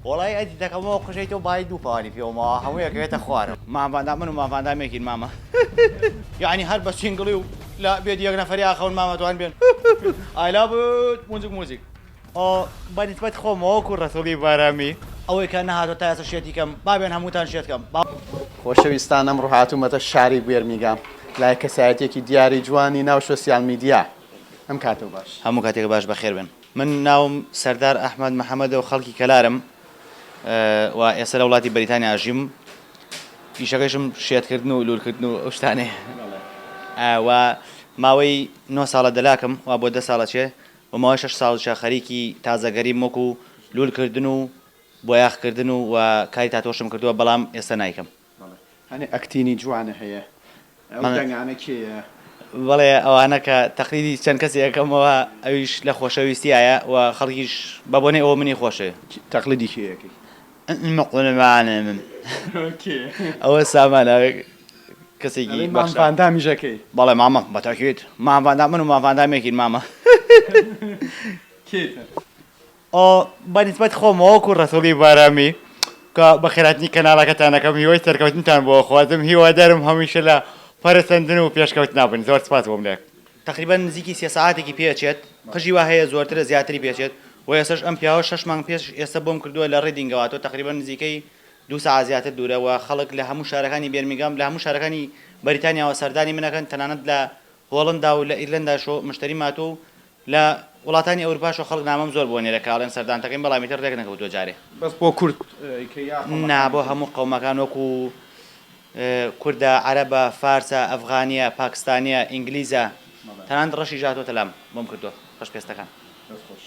وەڵایی ئەزیزەکەم ئەوە قژەی تۆ بایی دوو پانی پێوە ماوە هەمووی ئەکەوێتە خوارەوە. مام ڤاندام من و مام ڤاندام یەکین مامە یەعنی هەر بە سینگڵی و لە بێت یەک نەفەری ئاخەون مامە جوان بێن ئای لاڤت موزیک موزیک. ئۆ بە نیسبەت خۆمەوە وەکو ڕەسوڵی بارامی ئەوەی کە نەهاتوە تا ئێستا شێتی کەم با بێن هەمووتان شێت کەم با. خۆشەویستان ئەمڕۆ هاتوومەتە شاری بێرمیگام لای کەسایەتیەکی دیاری جوانی ناو شۆسیال میدیا ئەم کاتەو باش. هەموو کاتێک باش بەخێر بێن. من ناوم سەردار ئەحمەد محەمەدە و خەڵکی کەلارم و ئێستا لە وڵاتی بەریتانیا ئەژیم. ئیشەکەشم شێتکردن و لوولکردن و ئەو شتانەیە. و ماوەی نۆ ساڵە دەلاکم و بۆ دە ساڵە چێ و ماوەی شەش ساڵیشە خەریکی تازەگەریم وەکوو لوولکردن و بۆیاخکردن و و کاری تاتۆشم کردووە بەڵام ئێستا نایکەم. بەڵێ هەنێ ئەکتینی جوانە هەیە ئەو دەنگانە کێیە؟ بەڵێ ئەوانە کە تەقلیدی چەند کەسێ ئەکەمەوە ئەویش لە خۆشەویستیایە و خەڵکیش بە بۆنەی ئەوە منی خۆشەوێ. تەقلیدی کێ ئەکەی؟ ئەمە قوربانێ من. کێ؟ ئەوە سامان ئەوێ کەسێکی بەخشە. ئەڵێی مام ڤاندامیش ئەکەی؟ بەڵێ مامە بە تاکید مام ڤاندام من و مام ڤاندام یەکین مامە. کێی تر؟ ئۆ بە نیسبەت خۆمەوە وەکو ڕەسوڵی بارامی کە بە خێراتنی کەناڵەکەتان ئەکەم هیوای سەرکەوتنتان بۆ ئەخوازم هیوادارم هەمیشە لە پەرەسەندن و پێشکەوتنا بن زۆر سپاس بۆم لە تەقریبەن نزیکی سێ سەعاتێکی پێ ئەچێت قژی وا هەیە زۆرترە زیاتری پێ ئەچێت وە ئێستەش ئەم پیاوە شەش مانگ پێش ئێستە بۆم کردووە لە ڕیدینگەوە تۆ تەقریبەن نزیکەی دوو سەعات زیاتر دوورە وە خەڵک لە هەموو شارەکانی بێرمیگام لە هەموو شارەکانی بەریتانیاوە سەردانی من ئەکەن تەنانەت لە هۆڵندا و لە ئیرلەنداش مشتەریم هاتووە و لە وڵاتانی ئەورپاش و خەڵک نامەم زۆر بۆ نێرە کە ئەڵێن سەردان تەکەین بەڵام ئیتر رێک نەکەوتوە جارێ. بەس بۆ کورد ی کە یا قەومەکانی تر؟ نا بۆ هەموو قەومەکان وەکو کوردە عەرەبە فارسە ئەفغانیە پاکستانیە ئینگلیزە تەنانەت رەشیش هاتوەتە لام بۆم کردوە رەش پێستەکان دەست خۆش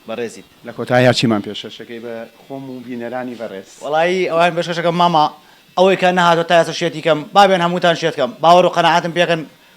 بەڕێزیت. لە کۆتاییا چیمان پێشکەشەکەی بە خۆم و بینەرانی بەڕێز؟ وەڵایی ئەوان پێشکەشەکەم مامە ئەوەی کە نەهاتوە تا ئێستا شێتی کەم بابێن هەمووتان شێت کەم باوەڕ و قەناعەتم پێکەن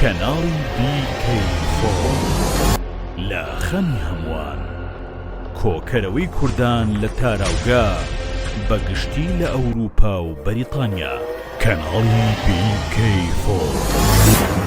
کەناڵی BK Forum لە خەمی هەمووان کۆکەرەوەی کوردان لە تاراوگە بە گشتی لە ئەوروپا و بەریتانیا کەناڵی BK Forum.